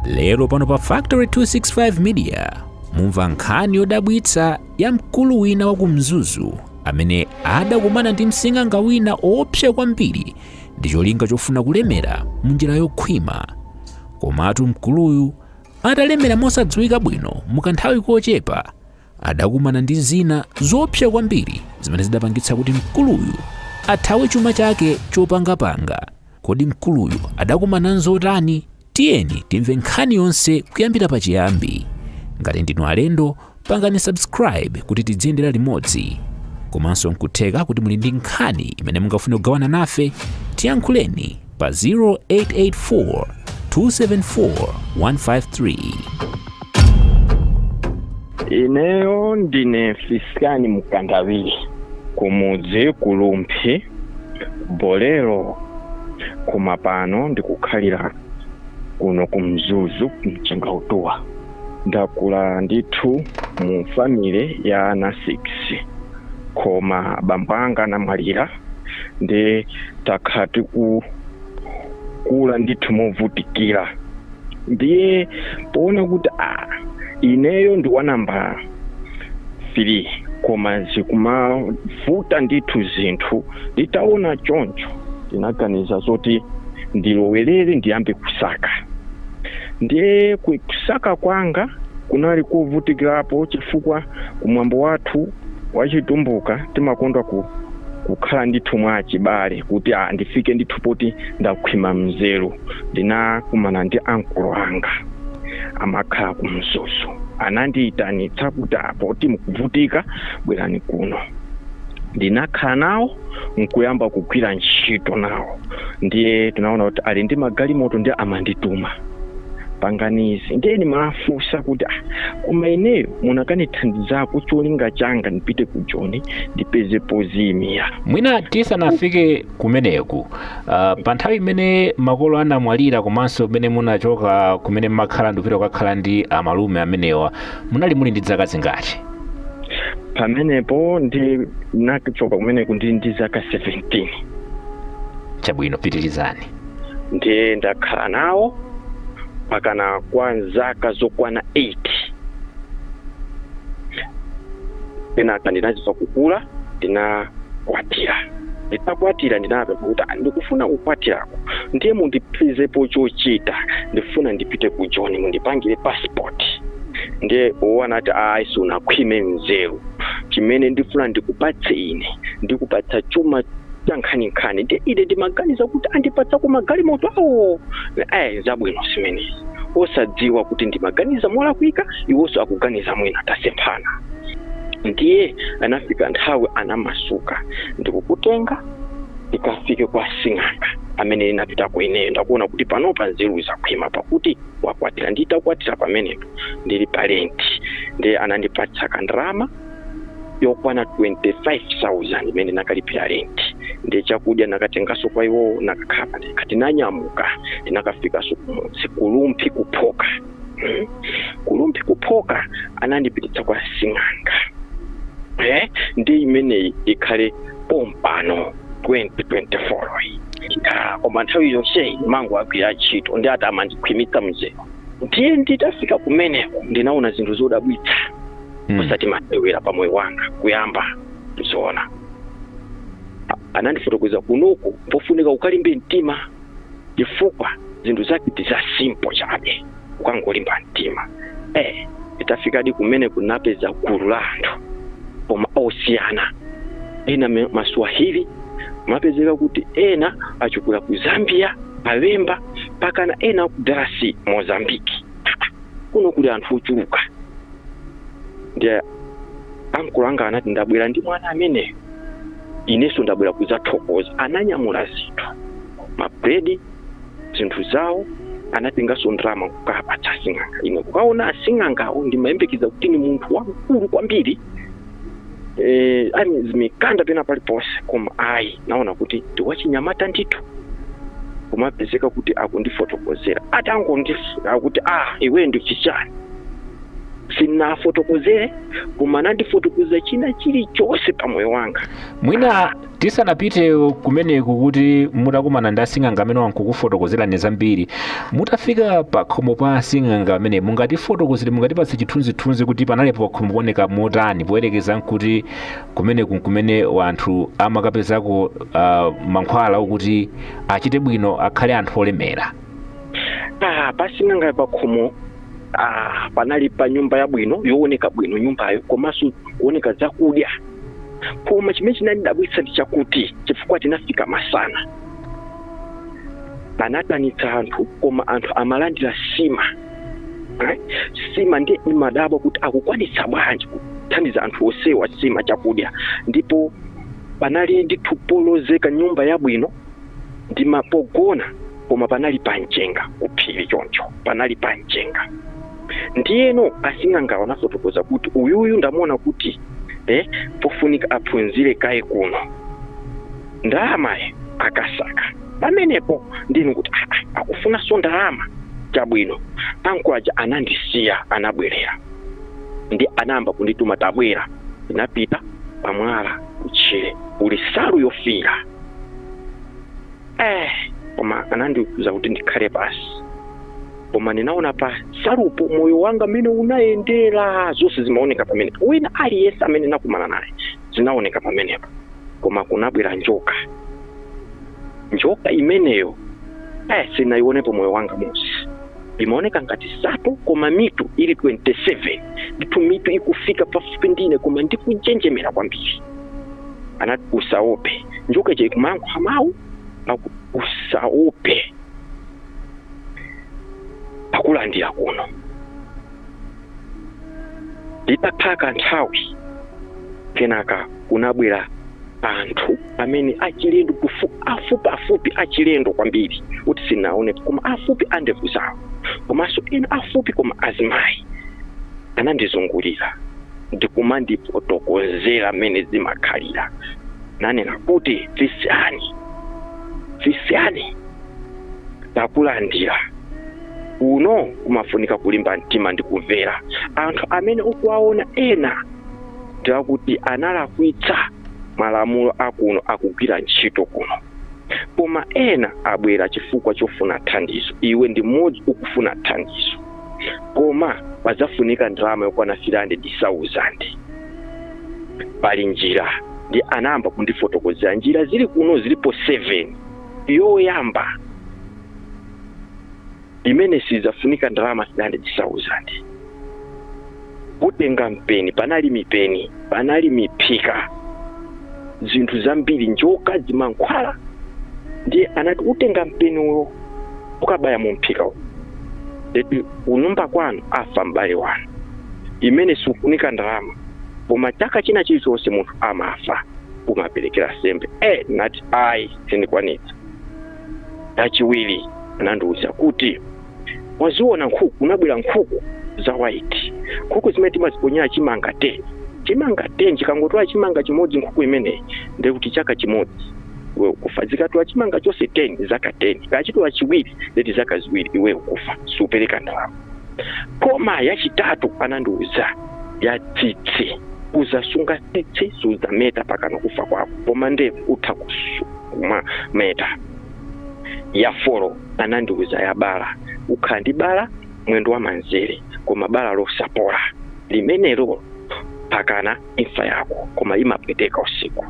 lero pano pa factory 265 media mumva nkhani yodabwitsa ya mkulu wina wa ku mzuzu amene adakumana ndi msing'anga wina woopsa kwambiri ndi cholinga chofuna kulemera mu njira yokhwima komatu mkuluyu atalemera mosadziwika bwino mukanthawi kochepa adakumana ndi zina zoopsa kwambiri zimene zidapangitsa kuti mkuluyu athawe chuma chake chopangapanga Kodi mkuluyu adakumana nzotani? Tiyeni timve nkhani yonse kuyambira pachiyambi. Ngati ndinu alendo, pangani subscribe kuti tidziyendera limodzi. Komanso nkutheka kuti muli ndi nkhani imene mungafune kugawana nafe, tiyankhuleni pa 0884 274 153. Ineyo ndine Fiskani Mkandawire kumudzi ku Rumphi Bolero koma pano ndikukhalira kuno ku Mzuzu Mchengautuwa ndakula ndithu mu family ya ana 6 koma bambo anga anamwalira ndi takhala tikukula ndithu movutikira ndiye poona kuti a ah, ineyo ndi wa namba 3 koma zikumavuta ndithu zinthu nditaona choncho ndinaganiza zoti ndilowerere ndiyambe kusaka ndiye kusaka kwanga kunali kovutikirapo chifukwa kumwambo wathu wachitumbuka timakonda ku kukhala ndithu mwa chibale kuti ah, ndifike ndithu poti ndakhwima mzeru ndinakumana ndi ankolo anga amakhala ku mzuzu anandiyitanitsa kuti a poti mukuvutika bwerani kuno ndinakhala nawo nkuyamba kugwira ntchito nawo ndiye tinaona kuti ali ndi magalimoto ndiye amandituma panganizi ndiye ndimawafunsa kuti ah, koma ineyo munakanithandizako cholinga changa ndipite ku joni ndipeze podziyimira mwina tisanafike kumeneko uh, pa nthawi imene makolo anamwalira komanso pamene munachoka kumene mmakhala ndikupita kukakhala ndi amalume amenewa munali muli ndi zaka zingati pamenepo ndinachoka kumeneko ndili ndi zaka 17 chabwino pitirizani ndiye ndakhala nawo mpakana kwa zaka zokwana 8 kenaka ndinazizwa kukula ndinakwatira nditakwatira ndinapempha kuti ndikufuna kukwatirako ndiye mundipezepo chochita ndifuna ndipite ku joni mundipangire passport ndiye iwo anati ayi sunakhwime mzeru chimene ndifuna ndikupatse ine ndikupatsa chuma cha nkhaninkhani ndiye ine ndimaganiza kuti andipatsa ku magalimoto awo ayi zabwino zimenezi osadziwa kuti ndimaganiza molakwika iwonso akuganiza mwina tasemphana ndiye anafika nthawi anamasuka ndikukutenga ndikafike kwa sing'anga amene ndinapitako ineyo ndakuona kuti panopa nzeru zakhwima pakuti wakwatira nditakwatira pamenepo ndili pa renti ndiye anandipatsa kandrama yokwana 25000 imene nakalipira renti ndi chakudya nakatengaso kwa iwowo nakakhala ndikati nanyamuka ndinakafikaso kumudzi kulumphi kuphoka kulumphi kuphoka anandipititsa kwa sing'anga eh, ndi imeneyi ikhale pompano 2024 yi Ah, koma nthawi yonseyi mangu agwira ntchito ndi ati amandikhwimitsa mzeru ndiye nditafika kumeneko ndinaona zinthu zodabwitsa Mm. osati masewera pa moyo wanga kuyamba kuziona anandifotokozera kunoku pofunika ukalimbe mtima chifukwa zinthu zake ndi za simple chabe ukangolimba mtima eh nditafikadi kumeneko napeza gulu la anthu koma osiyana ena me- maswahili mapezeka kuti ena achokera ku Zambia awemba mpakana ena aku Darasi Mozambiki kuno kuli anthu ochuluka ndiye ankulu anga anati ndabwera ndi mwana ameneyo ineso ndabwera kuzathokoza ananyamula zinthu mabredi zinthu zawo anatengaso ndalama kukapatsa asing'anga ine kukaona asing'angawo ndimayembekeza kuti ni munthu wamkulu kwambiri eh, azimikanda pena paliponse koma ayi naona kuti ndiwachinyamata ndithu kumapezeka kuti akundifotokozera atangondifuna kuti ah iwe ndichichani sinafotokozere koma anandifotokozera china chilichonse pa moyo wanga mwina tisanapite kumeneko kuti mutakumana ndi asing'anga amene wankukufotokozerani zambiri mutafika pakhomo pa asing'anga amene mungatifotokozere mungatipatse chithunzithunzi kuti panali pakhomo pooneka motani poyerekeza nkuti kumeneku nkumene wanthu amakapezako uh, mankhwala okuti achite bwino akhale anthu olemera Ah, pasing'anga pakhomo ah, panali pa nyumba yabwino yooneka bwino nyumbayo komanso kuoneka zakudya koma chimene chinandidabwitsa ndi chakuti chifukwa tinafika masana anaitanitsa anthu koma anthu amalandira sima Eh, sima ndiye ndimadabwa kuti akukwanitsa bwanji kuthandiza anthu onsewa sima chakudya ndipo panali ndithu polozeka nyumba yabwino ndimapogona koma panali pa mchenga kuphiri choncho panali pa mchenga ndiyeno asing'angawo anafotokoza kuti uyuyu ndamuona kuti eh, pofunika aphunzire kaye kuno ndalamayi akasake pamenepo ndiye kuti "Ah, ah, akufunanso ndalama chabwino ankolo aja anandisiya anabwerera ndi anayamba kundituma tabwera ndinapita pamwala kutchire kuli salu yofiira eh, koma anandiuza kuti ndikhale pasi koma ndinaona pa salupo moyo wanga mmene unayendera zonse zimaoneka pamenepo wina aliyense amene nakumana naye zinaoneka pamenepo koma kunabwera njoka njoka imeneyo eh, sinayionepo moyo wanga wonse imaoneka ngati sato koma mitu ili 27 ndithu mitu ikufika pafupi ndine koma ndikunjenjemera kwambiri anati usaope njoka ija ikumayankhula mawu akuti usaope takulandira kuno nditakhala kanthawi kenaka kunabwera anthu amene achilendo kufu- afupi afupi achilendo kwambiri kuti sinaonepo koma afupi andevu zawo komanso ena afupi koma azimayi anandizungulira ndikumandifotokozera mmene zimakhalira ananena kuti fisiyani fisiyani takulandira kuno kumafunika kulimba mtima ndi kumvera anthu amene ukuwaona ena ndi akuti analakwitsa malamulo akuno akugwira ntchito kuno koma ena abwera chifukwa chofuna thandizo iwe ndi mmodzi ukufuna thandizo koma padzafunika ndalama yokwana 300,000 pali njira ndi anayamba kundifotokozera njira zili kuno zilipo 7 yoyamba imene sidzafunika ndalama 300,000 utenga mpeni panali mipeni panali miphika zinthu zambiri njoka zimankhwala ndiye anati utenga mpeni uwo ukabaya mu mphika uwo eti kunyumba kwanu afa m'bale wanu imene sikufunika ndalama koma chaka china chilichonse munthu amafa umaperekera sembe e ndinati ayi sindikwanitsa chachiwiri anandiwuza kuti waziona nkhuku kunabwera nkhuku za white nkhuku zimene timaziponyera chimanga 10 chimanga 10 ikangotola chimanga chimodzi nkhuku imeneyi ndiye kuti chaka chimodzi iwe ukufa ikatola chimanga chonse 10 zaka 10 ikatola chiwiri ndeti zaka ziwiri iwe ukufa siupereka ndalama koma yachitatu anandiuza ya tsitsi uzasunga tsitsi suzameta pakana kufa kwako koma ndevu utha kumameta ya folo anandiuza ya bala ukhala ndi bala mwendo wa manzere koma bala losapola limenelo pakana imfa yako koma limapweteka usiku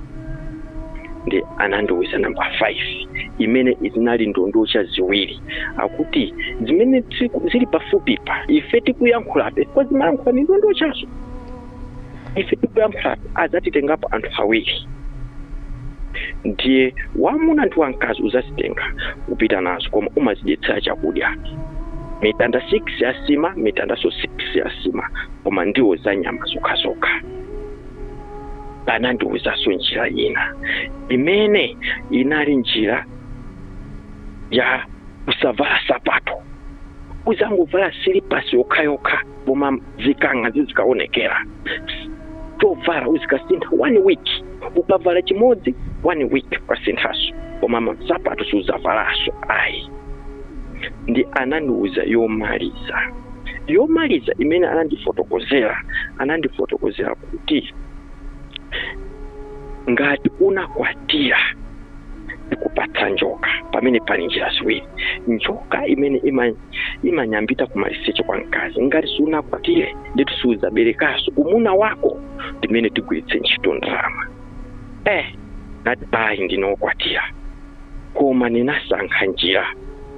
ndi anandiuza namba 5 imene izi zinali ndondocha ziwiri akuti zimene zili pafupi pa ife tikuyankhulabe koma zimayankhula ni ndondochazo ife tikuyankhula adzatitengapo anthu awiri ndiye wamuna ndi wamkazi uzazitenga kupita nazo koma umazidyetsera chakudya mitanda 6 ya sima mitandanso 6 ya sima koma ndiwo za nyama zokhazokha anandiwuzanso njira ina imene inali njira ya kusavala sapato uzangovala silipasi yokhayokha koma zikang'a zizikaonekera zovala uzikasintha one week ukavala chimodzi one week ukasinthaso koma sapato suzavalaso ayi ndi anandiuza yomaliza yomaliza imene anandifotokozera anandifotokozera kuti ngati unakwatira ndikupatsa njoka pamene pali njira ziwiri njoka imene ima imanyambita kumaliseche kwa mkazi ngati sunakwatire ndeti siudzaberekaso umuna wako ndimene tigwiritse ntchito ndalama eh ndinati ayi ndinakwatira koma ndinasankha njira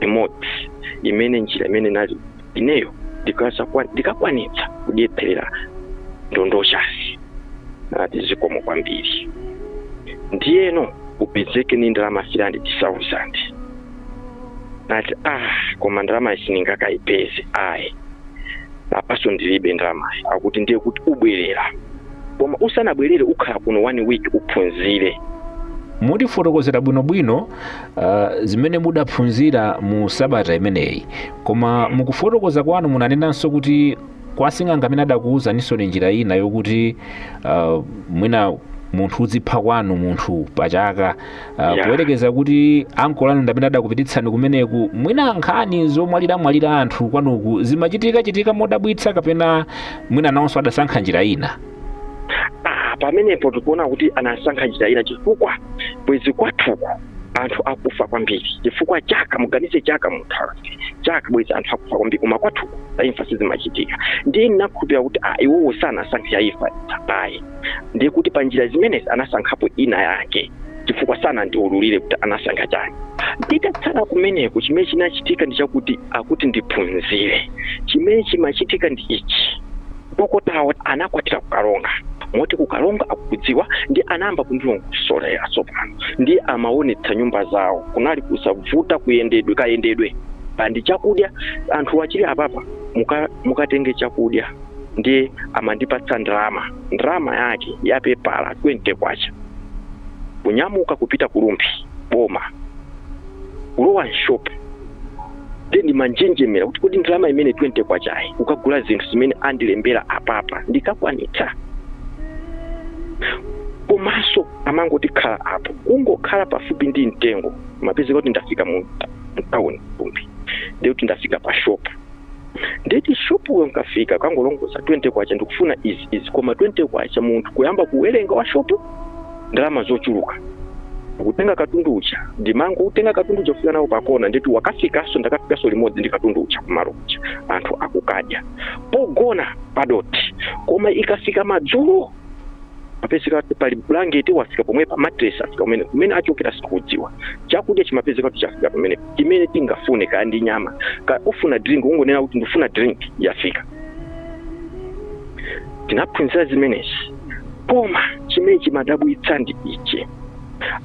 imodzi imene njira imene inali ineyo ndikasakwa- ndikakwanitsa kudyetsera ndondochazi anati zikomo kwambiri ndiyeno upezeke ni ndalama 300,000 nati ah koma ndalamayi sindingakayipeze ayi apaso ndilibe ndalamayi akuti ndiye kuti ubwerera koma usanabwerere ukhala kuno one week uphunzire mutifotokozera bwinobwino uh, zimene mudaphunzira mu sabata imeneyi koma mukufotokoza kwanu munanenanso kuti kwa sing'anga mene adakuwuzaninsoni njira ina yokuti uh, mwina munthu uzipha kwanu munthu pachaka Ah, Yeah. poyerekeza kuti ankolo anu ndamene adakupititsani kumeneku mwina nkhani zomwaliramwalira anthu kwanuku zimachitika chitika modabwitsa kapena mwina nawonso adasankha njira ina Ah, pamenepo tikuona kuti anasankha njira ina chifukwa bwezi kwathuku anthu akufa kwambiri chifukwa chaka muganize chaka munthawi chaka bwezi anthu akufa kwambiri koma kwathuku za imfa sizimachitika ndiye ndinakhulupirira kuti ah, iwowo sanasankhe ya imfa ayi ndiye kuti pa njira zimenezi anasankhapo ina yake chifukwa sanandiululire kuti anasankha chani nditatsala kumeneko chimene chinachitika ndi chakuti akuti ndiphunzire chimene chimachitika ndi ichi dokotawo anakwatira kukalonga moti kukalonga akukudziwa ndi anayamba kundilongosolera tsopano ndi amaonetsa nyumba zawo kunali kusavuta kuyendedwe kayendedwe pandi chakudya anthu achili apapa muka- mukatenge chakudya ndiye amandipatsa ndalama ndalama yake ya pepala 20 kwacha kunyamuka kupita ku Rumphi boma kulowa m'shopu ndiye ndimanjenjemera kuti kodi ndalama imene 20 kwachayi kukagula zinthu zimene andilembera apapa ndikakwanitsa komanso amangoti khala apo kungokhala pafupi ndi mtengo ndimapezeka kuti ndafika mtawuni ku Rumphi ndiye kuti ndafika pa shopu ndeti shopuyo nkafika kangolongoza 20 kwacha ndikufuna izi izi koma 20 kwacha munthu kuyamba kuwerenga wa shop ndalama zochuluka kutenga katundu uja ndimangoutenga katundu uja kufika nawo pakona ndeti wakafikaso ndakafikaso limodzi ndi katundu uja kumalo uja anthu akukadya pogona padoti koma ikafika madzulo mapezeka pali bulangete wafika pomwepa matresi afika kumene kumene achokera sikudziwa chakudya chimapezeka kuti chafika pamene chimene tingafune kaya ndi nyama kaya ufuna drink ungonena kuti ndifuna drink yafika ndinaphunzira zimenezi koma chimene chimadabwitsa ndi ichi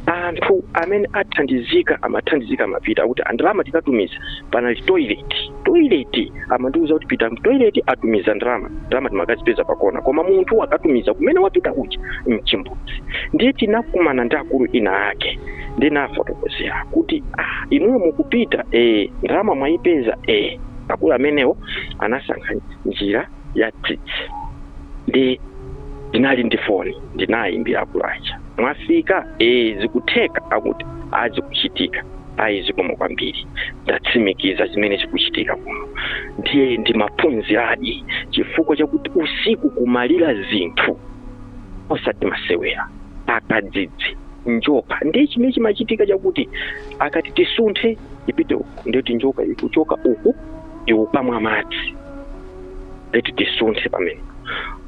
anthu amene athandizika amathandizika amapita akuti andalama tikatumiza panali toilet toilet amandiuza kuti pita mtoilet atumiza ndalama ndalama timakazipeza pakona koma munthu akatumiza kumene wapita kuja mchimbudzi ndiye ndinakumana ndi akulu ina ake ndinawafotokozera kuti ah, inuyo mukupita eh, ndalama mwayipeza eh. akulu amenewo anasankha njira ya tsitsi ndiye ndinali ndi foni ndinayimbira akulu aja mwafika ee zikutheka akuti ee zikuchitika ayi zikomo kwambiri ndatsimikiza chimene chikuchitika kuno ndiye ndimaphunziradi chifukwa chakuti usiku kumalira zinthu osati masewera akadzidzi njoka ndiye chimene chimachitika chakuti akati tisunthe ipite uku ndiye kuti njoka ikuchoka uku ikukamwa madzi ndiye tisunthe pamene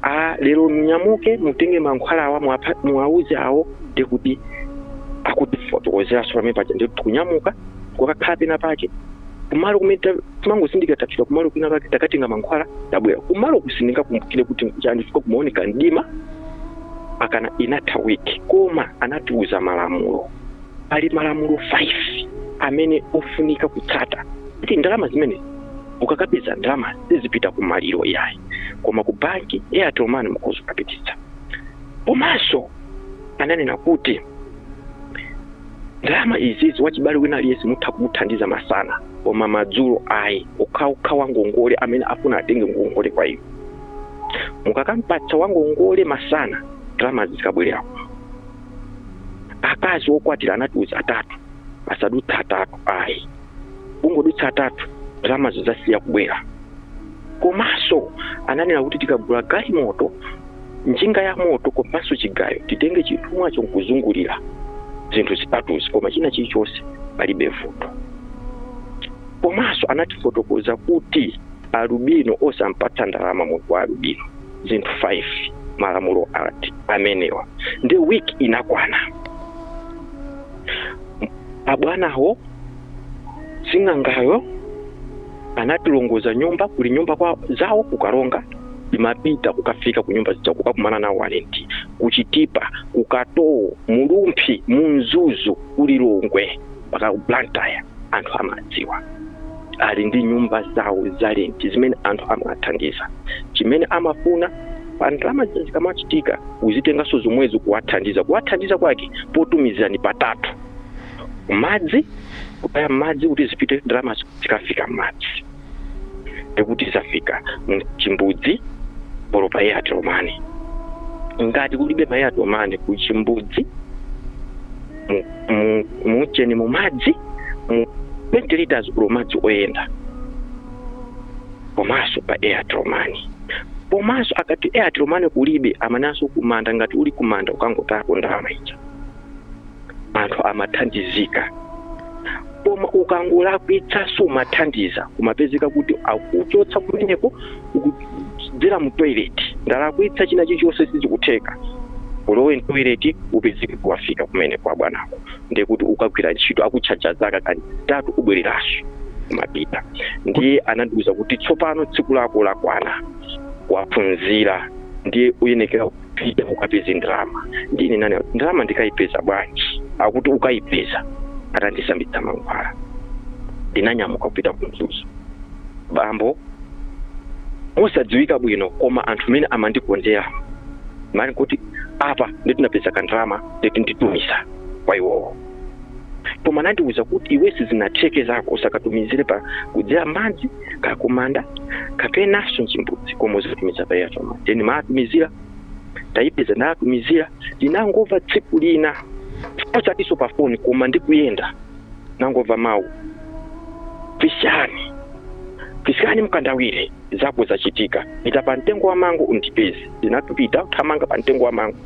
a lero munyamuke mutenge mankhwala awa muwapha- muwauze awo ndi kuti akutifotokozeranso pamene paja ndi tikunyamuka kukakhala pena pake kumalo kumene ta- timangozindikira tafika kumalo kwina pake takatenga mankhwala tabwera kumalo koma sindikukumbukira kuti nkuchani chifukwa kumaoneka mdima akana inatha week koma anatiuza malamulo pali malamulo 5 amene ofunika kutsata kuti ndalama zimenezi ukakapeza ndalama zisapite ku maliro yayi koma ku banki pa Airtel Money mukhoza kukapititsa komanso ananena kuti ndalama izizi wachibale wina aliyense mutha kumuthandiza masana koma madzulo ayi okhaokha wangongole amene afuna atenge ngongole kwa iwo mukakampatsa wangongole masana ndalama zikabwerera akazi okwatira anatiuza atatu asadutse atatu ayi kungodutsa atatu ndalama zidzasiya kubwera komanso ananena kuti tikagula galimoto njinga ya moto komanso chigayo titenge chithumwacho nkuzungulira zinthu zitatuzi koma china chilichonse palibe vuto komanso anatifotokoza kuti alubino osampatsa ndalama munthu wa alubino zinthu 5 malamulo ati amenewa ndiye week inakwana abwanawo sing'angayo anatilongoza nyumba kuli nyumba zawo ku Karonga timapita kukafika ku nyumba zija kukakumana nawo zalenti ku Chitipa ku Katowo mu Rumphi mu Mzuzu ku Lilongwe mpaka ku blantyre anthu amadziwa ali ndi nyumba zawo zalenti zimene anthu amawathandiza chimene amafuna pa ndalama zija zikamachitika uzitenganso zomwezo kuwathandiza kuwathandiza kwake potumizirani patatu madzi kutaya mmadzi kuti zipite ndalama zikafika mmadzi ndiye kuti zafika mchimbudzi olo pa Airtel Money ngati kulibe ma Airtel Money ku chimbudzi mu- mu- mutcheni mu madzi mu 20 liters olo madzi oyenda komanso pa Airtel Money komanso akati Airtel Money kulibe amanenanso kumanda ngati uli kumanda ukangotayako ndalama ija anthu amathandizika koma ukangolakwitsa sumathandiza kumapezeka kuti akuchotsa kumeneko ukudzera mu toilet ndalakwitsa china chilichonse sichikutheka ulowe mtoilet upezeke kuwafika kumene kwa bwanako ndiye kuti ukagwira ntchito akutchaja zaka kantatu ubwereranso kumapita ndiye anandiuza kuti tsopano tsiku lako lakwana waphunzira ndiye uyenekera pita ukapeze ndalama nde ine nanena ndalama ndikayipeza bwanji akuti ukayipeza atandisambitsa mankhwala ndinanyamuka kupita ku mzuzu bambo osadziwika bwino koma anthu mmene amandikondera mani kuti apa nditi napeza kandalama nditi nditumiza kwa iwowo koma anandiuza kuti iwe sizinatheke zako usakatumizire pa kudzera madzi kakumanda kapenanso mchimbudzi koma uzitumiza pa airtel money then maatumizira tayipeza ndatumizira ndinangova tsiku lina osatiso pa foni koma ndikuyenda nangova mawu pisani pisani mkandawire zako zachitika pita pa mtengo wa mango undipeze ndinapita kuthamanga pa mtengo wa mango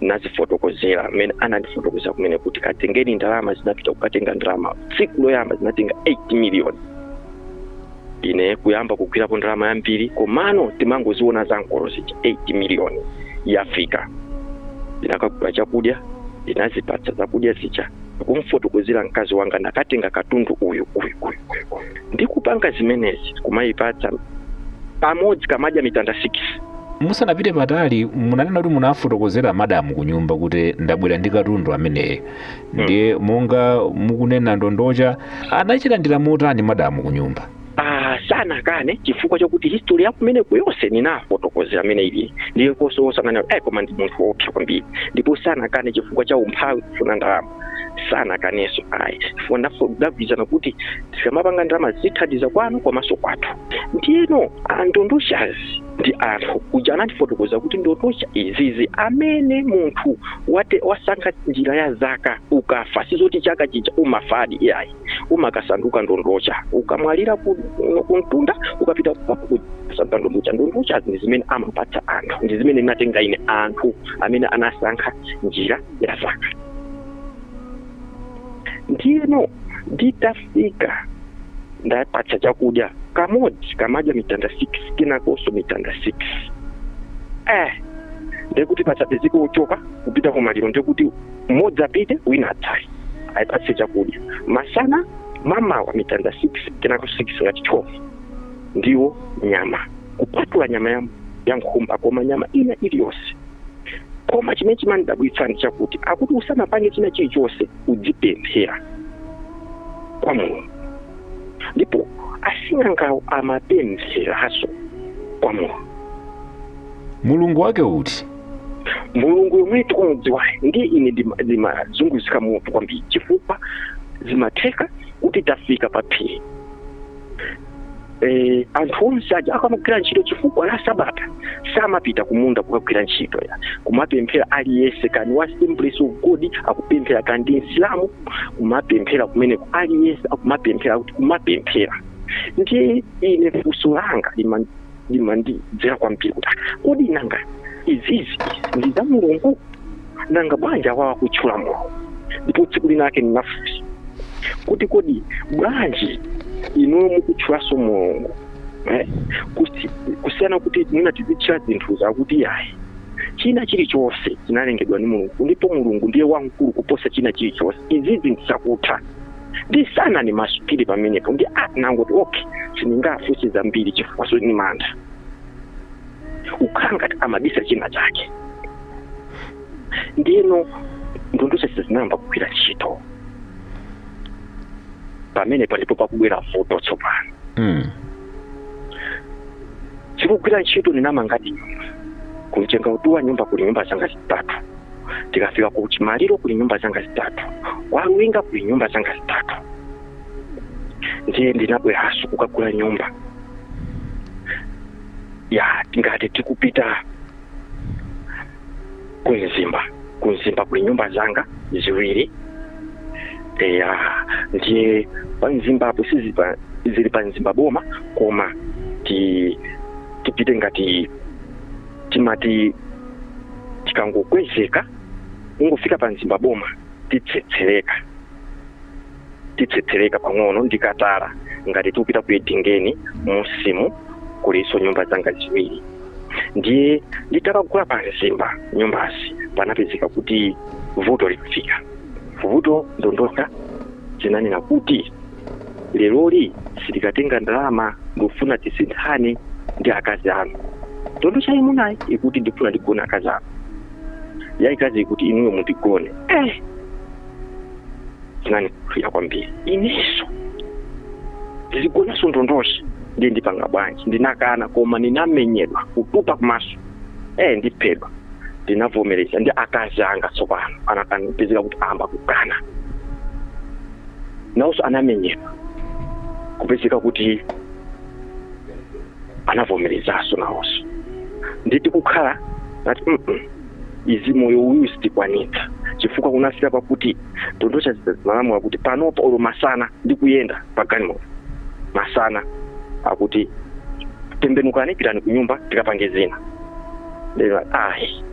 nazifotokozera mmene anandifotokozera kumene kuti katengeni ndalama zinapita kukatenga ndalama tsiku loyamba zinatenga 8 miliyoni ine kuyamba kugwirapo ndalama yambiri komano timangoziona za ankolo zija 8 miliyoni yafika ndinakagula chakudya ndinazipatsa zakudya zija kumfotokozera mkazi wanga nakatenga katundu uyu uyu uyu uyu uyu ndi kupanga zimenezi kumayipatsa kamodzi kamadya mitanda 6 musanapite patali munanena kuti munafotokozera madamu ku nyumba kuti ndabwera ndi katundu ameneyo ndiye monga mukunena ndondocha anachilandira motani madamu ku nyumba Ah, sanakane chifukwa chakuti history ya kumeneko yonse ninafotokozera mmene ili ndiye koso osanganira ayi koma ndi munthu woopsa kwambiri ndipo sanakane chifukwa cha umphawi kufuna ndalama sanakaneso ayi chifukwa nafe ndagwirizana kuti tikamapanga ndalama zithandiza kwanu komanso kwathu ndiyeno andondochazi ndi anthu kuja anandifotokozera kuti ndondocha izizi amene munthu wasankha njira ya zaka ukafa sizoti chaka chija umafadi iyayi umakasanduka ndondocha ukamwalira kuno kumtunda ukapita kusanduka ndondocha ndondochazi ndi zimene amapatsa anthu ndi zimene natenga ine anthu amene anasankha njira ya zaka ndiyeno nditafika ndapatsa chakudya kamodzi kamadya mitanda 6 kenakonso mitanda 6 eh ndekuti pasapezeke ochoka kupita kumaliro ndekuti mmodzi apite wina atsale ayipatse chakudya masana mamawa mitanda 6 kenako 6 ngati 12 ndiwo nyama kupatula nyama ya, ya nkhumba koma nyama ina iliyonse koma chimene chimandidabwitsa ndi chakuti akuti usanapange china chilichonse udzipemphera kwa mulungu ndipo asing'angawo amapempheranso kwa mulungu mulungu wake uti mulungu yomwe tikumudziwayo ndiye ine ndima- ndimazunguzika mutu kwambiri chifukwa zimatheka kuti tafika pa phiri eh, anthu onse aja akamagwira ntchito chifukwa la sabata samapita kumunda kukagwira ntchito ya kumapemphera aliyense kani wa assemblies of god akupemphera kani ndi msilamu kumapemphera kumeneko aliyense akumapemphera kuti kumapemphera ndiye ine funso langa liman- limandidzera kwambiri kuti ah, kodi nanga izizi ndi za mulungu nanga bwanji awawa kutchula mulungu ndipo tsiku linake ndinafunsa kuti kodi bwanji inuyo mukutchulanso mulungu eh? Kusi- kusiyana kuti mwina tizitchula zinthu zakuti ayi china chilichonse chinalengedwa ndi mulungu ndipo mulungu ndiye wamkulu kuposa china chilichonse izizi ndi zakuthandizana ni masukili pamenepo ndi ah, nangoti okay sindingafunse zambiri chifukwanso ni mantha ukhala ngati amabisa china chake ndiyeno ndondocha zese zinayamba kugwira ntchito pamenepa ndipo pakubwera vuto tsopano Mm. zikugwira ntchito ndinamanga nyumba ku mchengautuwa nyumba kuli nyumba zanga zitatu tikafika ku chimaliro kuli nyumba zanga zitatu kwa luwinga kuli nyumba zanga zitatu ndiye ndinabweranso kukagula nyumba ya ngati tikupita ku mzimba ku mzimba kuli nyumba zanga ziwiri eya ndiye pa mzimbapo sizili pa mzimba boma koma ti tipite ngati timati tikangokwezeka ungofika pa mzimba boma titsetsereka titsetsereka pang'ono ndi katala ngati tikupita ku edingeni musimu kulinso nyumba zanga ziwiri ndiye nditakagula pa mzimba nyumbazi panapezeka kuti vuto likufika vuto ndondocha zinanena kuti leroli sitikatenga ndalama ndikufuna tisinthane ndi akazi anu ndondocha yaimunayi ikuti ndifuna ndigone akazi anu yaikazi ikuti inuyo mundigone eh zinandikulira kwambiri inenso ndizigonanso ndondocha ndiye ndipanga bwanji ndinakana koma ndinamenyedwa kutupa kumaso eh ndiphedwa ndinavomereza ndi akazi anga tsopano anapezeka kuti ayamba kukana nawonso anamenyedwa kupezeka kuti anavomerezanso nawonso nditi kukhala nati mm -mm. izi moyo uyu sitikwanitsa chifukwa kunafika pakuti ndondocha zimalamula kuti panopa olo masana ndikuyenda pa galimoto masana akuti tembenukani pitani ku nyumba tikapange zina lero ayi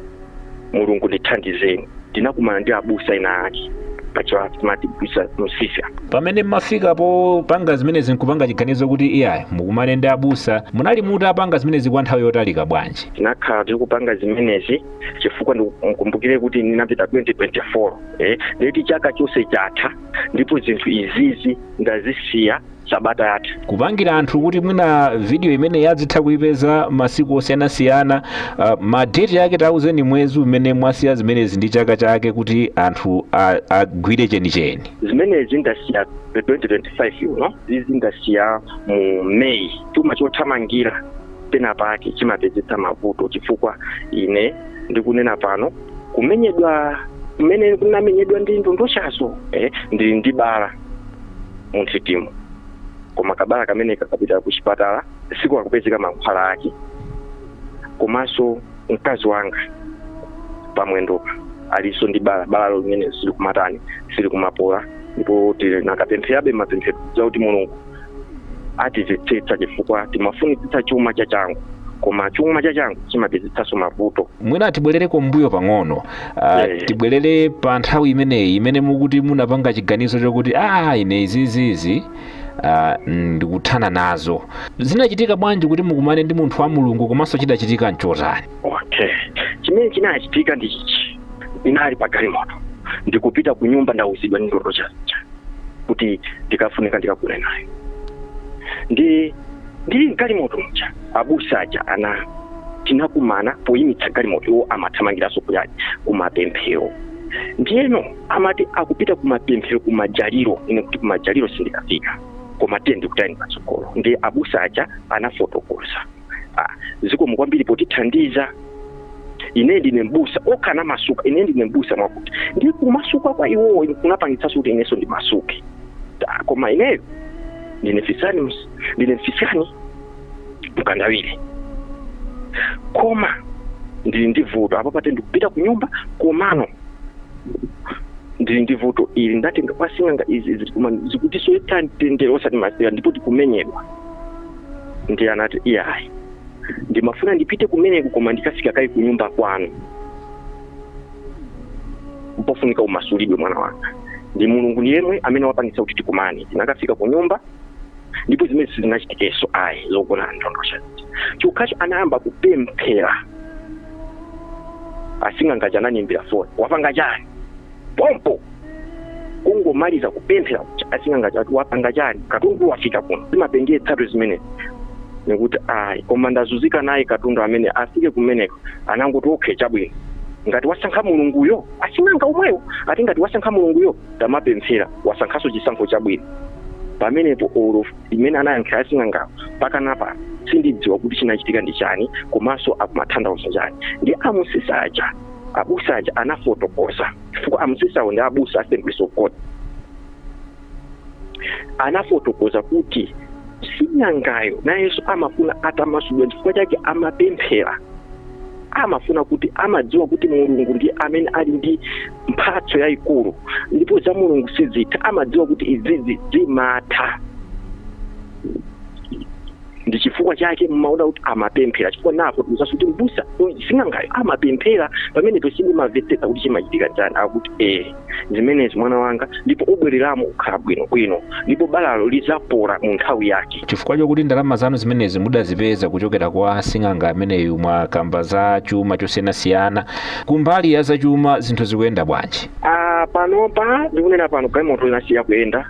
mulungu ndithandizeni ndinakumana ndi abusa ena ake pachiwa timati busa msisya pamene mmafika popanga zimenezi nkupanga chiganizo kuti iyayi mukumane ndi abusa munali mutapanga zimenezi kwa nthawi yotalika bwanji tinakhala tikupanga zimenezi chifukwa ndikumbukire kuti ndinapita 2024 eh, ndiye kuti chaka chonse chatha ndipo zinthu izizi ndazisiya sabata yatha kupangira anthu kuti mwina video imeneyi adzitha kuipeza masiku osiyanasiyana uh, madeti yake tauzeni mwezi umene mwasiya zimenezi ndi chaka chake kuti anthu a- agwire chenicheni zimenezi ndasiya 2025 uno izi ndasiya mu may chuma chothamangira pena pake chimapezetsa mavuto chifukwa ine ndikunena pano kumenyedwa kumene kunamenyedwa ndi ndondochazo eh, ndili ndi bala munthitimu koma kabala kamene kakapita ku chipatala sikukupezeka mankhwala ake komanso mkazi wanga pamwendopa alinso ndi bala balalo limene silikumatani silikumapola ndipo tinakapempherabe mapemphero akuti mulungu atimvetsetse chifukwa timafunitsitsa chuma cha changu koma chuma cha changu chimapezetsanso mavuto mwina tibwerere kumbuyo pang'ono uh, Eh. tibwerere pa nthawi imeneyi imene mukuti munapanga chiganizo chokuti a ine izizizi uh, ndikuthana nazo zinachitika bwanji kuti mukumane ndi munthu wa mulungu komanso chidachitika nchotani okay chimene chinachitika ndi ichichi ndinali pa galimoto ndikupita ku nyumba ndawuzidwa ndi ndondocha kuti ndikafunika ndikagone nayo ndi ndili mgalimoto muja abusa aja ana tinakumana poyimitsa galimoto iwo amathamangiranso kuyali kumapemphero ndiyeno amati akupita kumapemphero kumajaliro ine kuti kumajaliro sindikafika koma tiye ndikutayeni patsogolo ndi abusa aja anafotokoza ah, zikomo kwambiri potithandiza ine ndine mbusa okhala anamasuka ine ndine mbusa mwakuti ndi kumasuka kwa iwowo kunapangitsanso kuti inenso ndimasuke Ta, koma ineyo ndine fisani ms- ndine mfisani mkandawire koma ndili ndi vuto apa pate ndikupita ku nyumba komano ndili ndi vuto ili ndatenga kwa sing'anga izi izi koma zikutisowetsa mtendere osati masewera ndipo tikumenyedwa ndiye anati iyayi ndimafuna ndipite kumeneko koma ndikafike kaye kunyumba kwanu mpofunika umasulidwe mwana wanga ndi mulungu ndi yemwe amene wapangitsa kuti tikumane tinakafika ku nyumba ndipo zimene sizinachitikenso ayi zogona ndondocha chokhacho anayamba kupemphera asing'anga aja anandiimbira foni wapanga chani pompo kungomaliza kupemphera kucha asing'anga aja ati wapanga chani katundu wafika kuno timapengetsatu zimenezi nikuti ayi koma ndazunzika naye katundu amene afike kumeneko anangoti okay chabwino ngati wasankha mulunguyo asing'anga omwewo ati ngati wasankha mulunguyo tamapemphera wasankhaso chisankho chabwino pamenepo umo mmene anayankhira asing'angawo mpaka pano sindidziwa kuti chinachitika ndi chani komanso akumatanthauza chani ndi amusisa aja abusa aja anafotokoza chifukwa amsisawo ndi abusa a assemblies of god anafotokoza kuti sing'angayo nayenso amafuna atamasulidwa chifukwa chake amapemphera amafuna kuti amadziwa kuti mulungu ndi amene ali ndi mphatso yayikulu ndipo za mulungu sizitha amadziwa kuti izizi zimatha ndi chifukwa chake mmaona kuti amapemphera chifukwa napo timuzaso kuti mbusa uyu sing'angayo amapemphera pamenepo sindimamvetsetsa kuti chimachitika chani akuti ee zimenezi mwana wanga ndipo ubwereramo ukhala bwino bwino ndipo balalo lizapola mu nthawi yake chifukwa chokuti ndalama zanu zimenezi mudazipeza kuchokera kwa sing'anga ameneyu mwakamba za chuma chosiyanasiyana kumbali ya zachuma zinthu zikuyenda bwanji Ah, panopa ndikunena pano galimoto inasiya kuyenda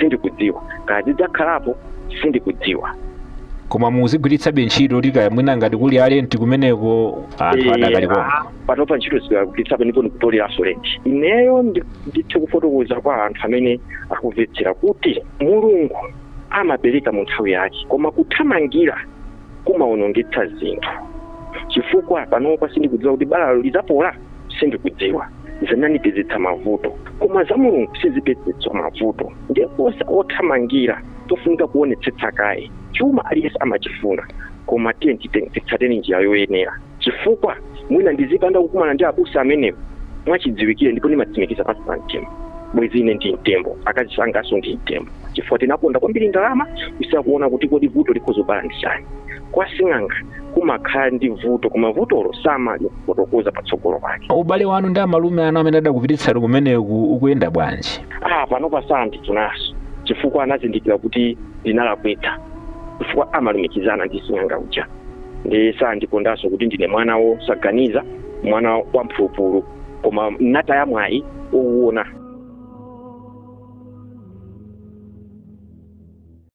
sindikudziwa kaya zidzakhalapo sindikudziwa koma ndikuzigwiritsabe ntchito kuti kaya mwina ngati kuli alenti kumeneko anthu adakalipo panopa ntchito ndikugwiritsabe ndipo ndikutoleranso lenti ineyo ndi- ndithe kufotokoza kwa anthu amene akumvetsera kuti mulungu amapereka mu nthawi yake koma kuthamangira kumaonongetsa zinthu chifukwa panopa sindikudziwa kuti balalo lidzapola sindikudziwa zinandipezetsa mavuto koma za mulungu sizipezetsa mavuto ndiye kwa othamangira pofunika kuonetsetsa kaye chuma aliyense amachifuna koma tiye tite- titsateni njira yoyenera chifukwa mwina ndikadapanda kukumana ndi abusa amenewo mwachidziwikire ndipo ndimatsimikiza pansi pa mtima bwezi ine ndi mtembo akazi anganso ndi mtembo chifukwa tinakonda kwambiri ndalama kusiya kuona kuti kodi vuto likhoza kubala ndi chani kwa sing'anga kumakhala ndi vuto koma vutolo samalifotokoza patsogolo pake ubale wanu ndi amalume anu amene adakupititsani kumeneku ukuyenda bwanji ah panopa sandifunanso chifukwa anazindikira kuti ndinalakwitsa chifukwa amalumikizana ndi sing'anga uja ndi sandikondanso kuti ndine mwana wosaganiza mwana wa mphulupulu koma ndataya mwayi owuona